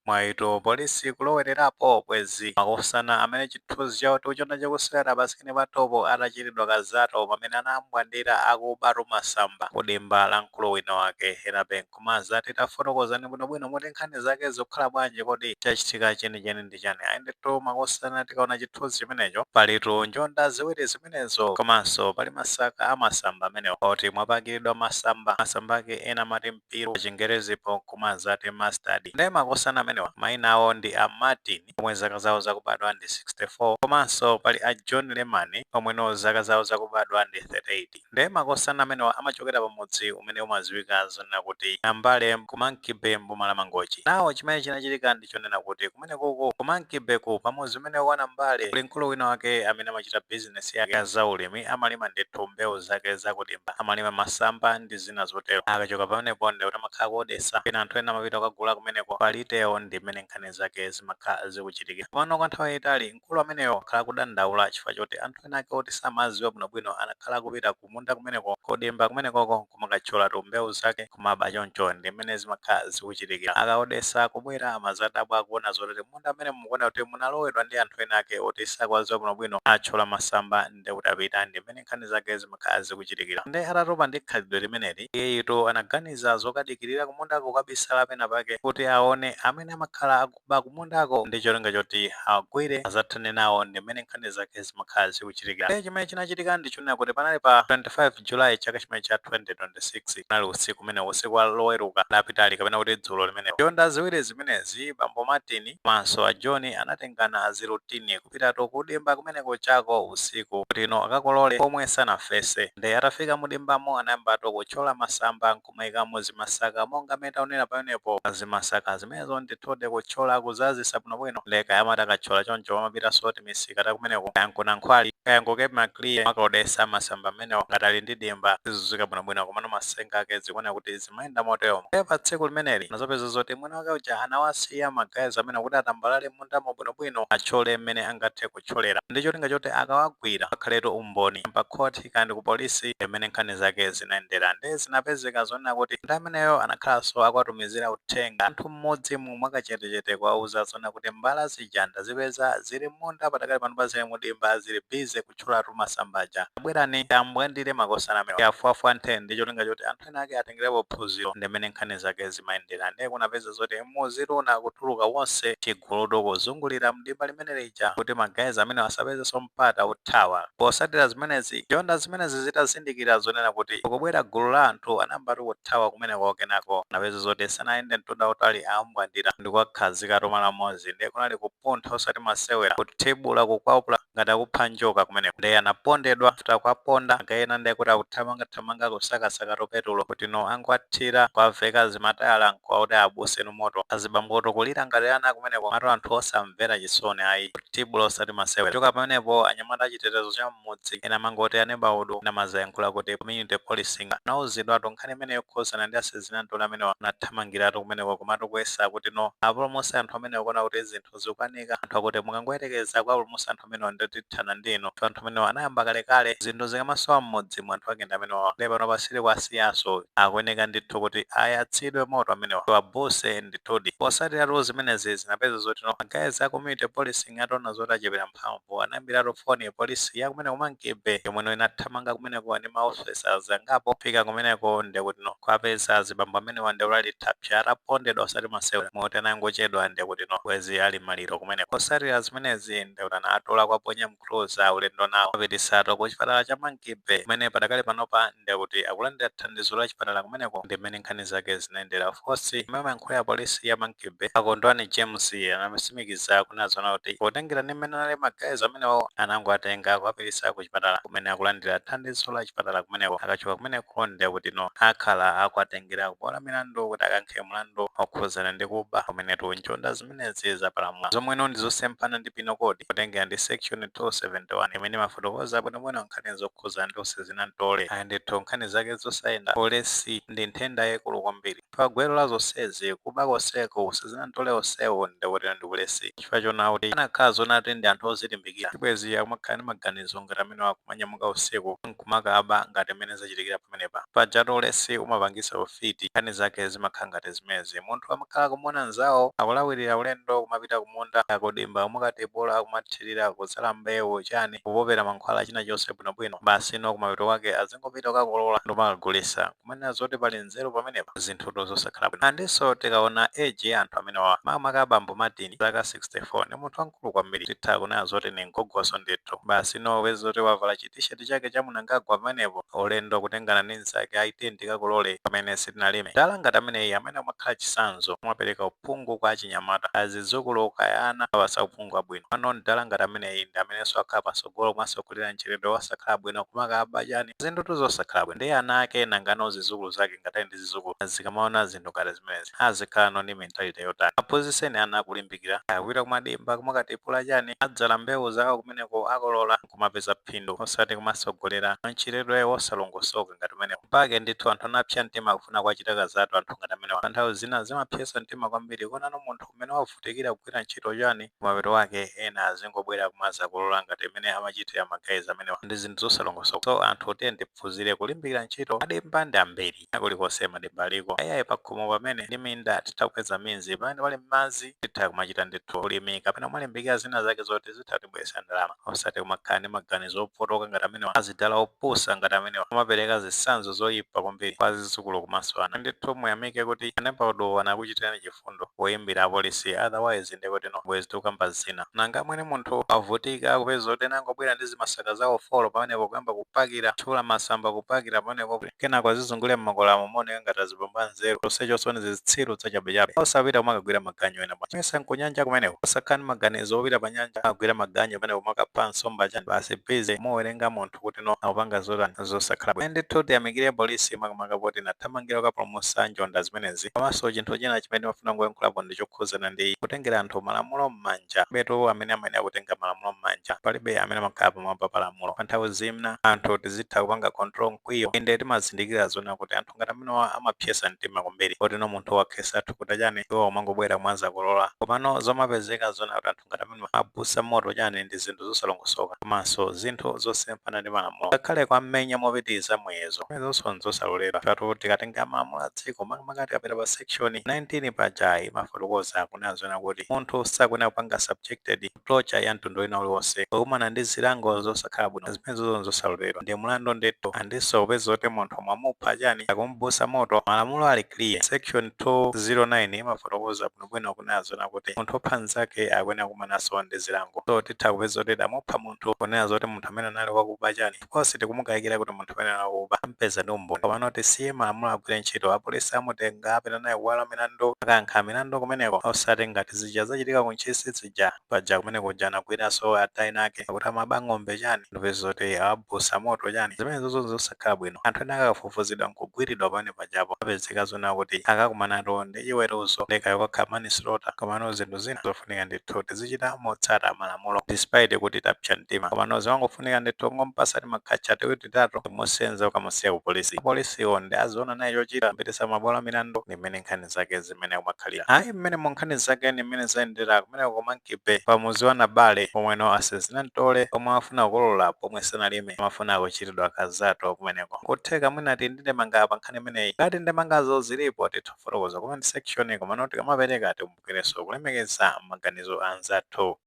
Mwayitu polisi kulowererapo bwezi makosana amene chithuzi chawo tikuchiona chikusewera pa screen pa topo atachitidwa ka zato pamene anambwandira akubatu masamba ku dimba la mkulu wina wake ena benkumazati tafotokozani bwino bwino muti nkhani zake zikukhala bwanji kodi chachitika cheni cheni ndi chani ayi ndithu makosana tikaona chithuzi chimenecho palitu njonda ziwiri zimenezo komanso pali masaka a masamba amenewo oti mwapakilidwa masamba masamba ake ena amati mpiru pa chingerezipo nkumazati Mustard. Nde makosana amenewa maina awo ndi a Martin omwe zaka zawo zakubadwa ndi 64 komanso pali a John Lemani omweno zaka zawo zakubadwa ndi 38. Nde makosana amenewa amachokera pa mudzi umene umaziwika zonena kuti Nambale ku Monkey Bay m'boma la Mangochi. Now chimene chinachitika ndi. ndi chonena kuti kumenekoko ku Monkey Bay-ku pa mudzi umene wa Nambale kuli mkulu wina wake amene amachita bizinesi yake ya za ulimi amalima ndithu mbewu zake za ku dimba amalima masamba ndi zina zotero akachoka pamenepo ndi kuti amakhala akuodesa pena anthu ena amapita kukagula kumeneko pa retail ndi mmene nkhani zake zimakhala zikuchitikira komano kwa nthawi yayitali mkulu ameneyo akhala akudandaula chifukwa choti anthu ena ake oti samaziwa bwinobwino anakhala akupita ku kumunda kumeneko, kudimba kumenekoko nkumakathyolatu mbewu zake kumaba choncho ndi mmene zimakhala zikuchitikira. Akaodesa akubwera amazadabwa akuona zoti mmunda mmene mukuoneka kuti munalowedwa ndi anthu ena ake oti sakuwadziwa bwino bwino atchola masamba nde kuti apita ndi mmene nkhani zake zimakhala zikuchitikira. Nde atatopa ndi khalidwe limeneli iyeyitu anaganiza zokadikirira kumundako kukabisala pena pake kuti aone amene amakhala ba kumundako ndi cholinga choti awagwire azathane nawo ndi mmene nkhani zake zimakhala zikuchitikira. Ndiye chimene chinachitika ndi chonena kuti panali pa 25 July chaka chimenecho cha 2026 kunali usiku umenewo, usiku wa Loweruka lapitali kapena kuti dzulo limenelo. Njonda ziwiri zimenezi, bambo Martin komanso a John anatengana azirutini kupitatu kudimba kumeneku chako usiku kutino akakolole pomwe sanafese. Ndiye atafika mudimbamo anayambatu kutchola masamba nku. nkumaikamo zimasaka monga mmene taonera pamenepo. Zimasaka zimenezo ndithudi kutchola kuzazisa bwinobwino nde kaya amati akatchola choncho amapitaso timisika takumeneko kaya nku Nankhwali kaya nku Cape Maclear kumakaodesa masamba amenewo ngati ali ndi dimba sizizizwika bwinobwino komano masenga ake zikuoneka kuti zimayenda moteomo nde patsiku limeneli anazapeza zoti mwini wake uja anawasiya ma guys amenewo kuti atambalale mmundamo bwinobwino atchole mmene angathe kutcholera ndi cholinga choti akawagwira akhaletu umboni pa khoti kaya ndi ku polisi mmene nkhani zake zinayendera. Ndiye zinapezeka zonena kuti munthu ameneyo anakhalanso akuwatumizira uthenga anthu m'mudzimo mwakachetechete kuwauza zonena kuti mbala zija ndazipeza zili m'munda patakali panopa zili mudimba zili busy kutcholatu masamba aja. Tabwerani tiambwandire makosana amenewa. Tiafuafwanthe ndi cholinga choti anthu. ena ake atengelepo phunziro ndi mmene nkhani zake zimayendera nde kunapeza zoti mudzitu unakatuluka wonse chigulutu kuzungulira dimba limene lija kuti ma guys amenewa asapezenso mpata othawa posatira zimenezi njonda zimenezi zitazindikira zonena kuti kukubwera gulu la anthu anayambatu kuthawa kumeneko kenako kunapeza zoti sanayende mtunda wautali awambwandira ndi kuwakhazikatu malo amodzi nde kunali kupuntha osati masewera kuthibula kukwapula ngati akupha njoka kumeneko nde anapondedwa after akuaponda magaye ena nde kuti akuthamanga thamanga kusakasaka tupetulo kuti no angowathira nkuwaveka zimatayala nkuwaotcha awabutse nu moto azibambotu kulira ngati ana kumeneko komatu anthu osamvera chisoni ayi thibulo osati masewera kuchoka pamenepo anyamata achitetezo cha mmudzi ena amangoti a neighbourhood ena amadzayankhula kuti community policing anauzidwatu nkhani imene yokhudzana ndi asezina ntole amenewa anathamangiratu kumeneko komatu kuyesa kuti no apulumutse anthu amenewa kuona kuti zinthu zikukanika anthu akuti mukangoyerekeza kuwapulumutsa anthu amenewa ndiye tithana ndi inu chifukwa anthu amenewa anayamba kalekale zinthu zikamasowa m'mudzi mu anthu ake ndi amenewawa ndiye panopa sitikuwasiyanso akuyeneka ndithu kuti ayatsidwe moto amenewa tiwabutse ndithudi posatiratu zimenezi zinapeza zoti no magaye a community policing ataona zoti achepera mphamvu anaimbiratu foni polisi ya kumeneko ku Monkey-Bay yomweno inathamanga kumeneko ndi ma officers angapo. Pofika kumeneko nde kuti no kuwapeza azibambo amenewa nde ali thapsa atapondedwa osati masewera moti akanangochedwa nde kuti no bwezi ali maliro kumeneko. Posatira zimenezi nde kuti anawatola kuwaponya mcruiser ulendo nawo kuwapititsatu ku chipatala cha Monkey-Bay kumene padakali panopa ndi akuti akulandira thandizo la chipatala kumeneko ndi mmene nkhani zake zinayendera ofesa yemwe amayankhulira polisi ya monkey bay akondwani james anatsimikiza kunena zoona kuti potengera ndi mmene anali magaye amenewo anangowatenga akuwapititsa ku chipatala kumene akulandira thandizo la chipatala kumeneko akachoka kumeneko ndi akuti no akhala akuwatengera kubwalo la milandu kuti akayankhe mlandu okhudzana ndi kuba kumenetu njonda zimene zimenezi zapalamula, zomweno ndi zosemphana ndi Penal Code potengera ndi Section 271 imene imafotokoza bwinobwino nkhani zokhudzana ndi usezina mtole. Ayi ndithu, nkhani zake zosayenda, ulesi, ndi nthenda yaikulu kwambiri. Gwero la zonsezi, kuba konseko, usezina mtole wonsewo, ndiye kuti ndi ulesi. Chifukwa choona kuti akanakhala zoona kuti ndi anthu ozilimbikira, sibwenzi akumakhala ndi maganizo ngati amenewa akumanyamuka usiku, kumakaba ngati mmene zachitikira pamenepa. Pajatu ulesi umapangitsa ufiti. Nkhani zake zimakhala ngati zimenezi. Munthu amakhala akumuona mnzawo akulawirira ulendo kumapita kumunda kaya kudimba kumakatipula kumathirira, kudzala mbewu, chani, kupopera mankhwala china chilichonse bwinobwino. Basi no kumapeto kwake azingopita kukakolola ndikumakagulitsa. Kumanena zoti pali nzeru pamenepa? Zinthutu zosakhala bwino. Andinso tikaona age ya anthu amenewawa makamaka bambo Martin, zaka 64, ndi munthu wamkulu. wankulu kwambiri titha kunena zoti ndi mgogoso ndithu basi no wezi zoti wavala chi t-shirt chake cha mnangagwa pamenepo ulendo kutengana ndi mzake ayi tiyeni tikakolole pamene sitinalime mdala ngati ameneyi amene umakhala chisanzo umapereka uphungu kwa achinyamata azidzukulu kaya ana awapatsa uphungu wabwino pano mdala ngati ameneyi ndi amenenso akhala patsogolo kumatsogolera mchitidwe wosakhala bwino kumakaba chani zinthutu zosakhala bwino ndiye ana ake nangano zidzukulu zake ngati ali ndi zizukulu zikamaona zinthu ngati zimenezi azikhala no ndi mentality yotani aphunziseni ana kulimbikira akupita kumadimba kumakatipula chani adzala mbewu zawo kumeneko akolola kumapeza phindu osati kumasogolera mchitidwe wosalongosoka ngati umenewu mpake ndithu anthu anapsa mtima kufuna kuwachita kazatu anthu ngati amenewa pa nthawi zina zimapsesa mtima kwambiri kuonano munthu umene wavutikira kugwira ntchito chani kumapeto kwake ena azingobwera kumazakolola ngati mmene amachitira magayizi amenewa ndi zinthu zosalongosoka so anthu tiyeni tiphunzire kulimbikira ntchito madimba ndi ambiri kulikonse madimba aliko ayayi pakhomo pamene ndi minda titha kupeza mitsinje pamene pali madzi titha kumachita ndithu ulimi kapena kumalimbikira zina zake zoti zitha kutibweresa ndalama osati kumakhala ndi maganizo opotoka ngati amenewa azidala opusa ngati amenewa amapereka zitsanzo zoyipa kwambiri kwa zidzukulu komanso ana ndithu muyamike kuti a neighbourhood wo anakuchitirani chifu fundo woyimbira apolisi otherwise ndikuti no bwezi tikukamba zina. Nanga mwini munthu wavutika kupeza zoti ena angobwera ndi zimasaka zawo folo pamenepo kuyamba kupakira, kutchula masamba kupakira pamenepo kenako azizungulira m'makwalala mu kumaoneka ngati azibambo anzeru chonsecho ndi zitsiru zachabechabe. Osapita kumakagwira maganyu ena? Mesa nkunyanja kumeneko? Osakhala ndi maganizo opita panyanja kukagwira maganyu pamenepo kumakapha nsomba chani? Basi busy kumawerenga munthu. anthu kuti no akupanga zotani zosakhala bwino. Ayi ndithu tiyamikire polisi makamaka poti inathamangira kukapulumutsa njonda zimenezi. Komanso chinthu china chimene ndimafuna kungoyankhulapo ndi chokhudzana ndi kutengera anthu malamulo mmanja. Palibetu amene amayenera kutenga malamulo mmanja. Palibe amene amakhala pamwamba pa lamulo. Pa nthawi zina anthu tizitha kupanga control mkwiyo. Inde timazindikira zonena kuti anthu ngati amenewa amapsetsa mtima kwambiri poti no munthu wakhesa thukuta chani iwo kumangobwera kumadzakolola. Komano zomapezeka zonena kuti anthu. ngati amenewa abusa moto chani ndi zinthu zosalongosoka komanso zinthu zosemphana ndi malamulo ngakhale kuwamenya mopitiliza muyezo zimenezoso nzosaloledwa pajatu tikatenga malamulo a dziko makamaka tikapita pa section 19 paja imafotokoza kunena zonena kuti munthu sakuyenera kupanga subjected to torture ya mtundu wina uliwonse kukumana ndi zilango zosakhala bwino zimenezo nzosaloledwa ndi mlandu ndithu and kupeza kuti munthu mwamupha chani akumubusa moto malamulo ali clear section 209 imafotokoza bwino bwino kunena zonena kuti munthu wopha mnzake akuyenera kukumananso ndi zilango. So titha kupeza kuti tamupha munthu kunena zoti munthu amene anali wakuba chani 'cause sitikumukaikira kuti munthu amene anali wakuba amupeza ndi umboni. Komano tisiye malamulo agwire ntchito. Apolisi amutenga apita naye kubwalo la milandu akayankha milandu kumeneko osati ngati zija zachitika ku Ntchisi zija. paja kumene kuja anagwiranso atate enaake akuti amaba ng'ombe chani n'kupeza zoti awabusa moto chani zimenezozo zosakhala bwino anthu ena akafufuzidwa nkugwiridwa pamene pajapo apezeka zona kuti akakumanatu ndi chiweruzo ndi kaya kakhala manslaughter komano zinthu zina zofunika ndithu tizichita motsata malamulo despite kuti tapsa mtima komano zimangofunika ndithu kungompasa timakhatcha tiwiri titatu n'kumusenza kukamusiya ku polisi apolisiwo ndi aziona naye chochita kupitisa mabwalo a milandu ndi mmene nkhani zake ndi mmene kumakhalira ayi mmene mu nkhani zake ndi mmene zayendera kumene kumankibe pamuzi wa nabale pomweno a zisinamtole omwe afuna kukolola pomwe sanalime amafuna kuchitidwa zakezatu kumeneko kutheka mwina tili ndi ndemanga pa nkhani imeneyi ngati ndemangazo zilipo titha kufotokoza mu comment section komano tikamapereka tikumbukirenso kulemekeza maganizo a anzathu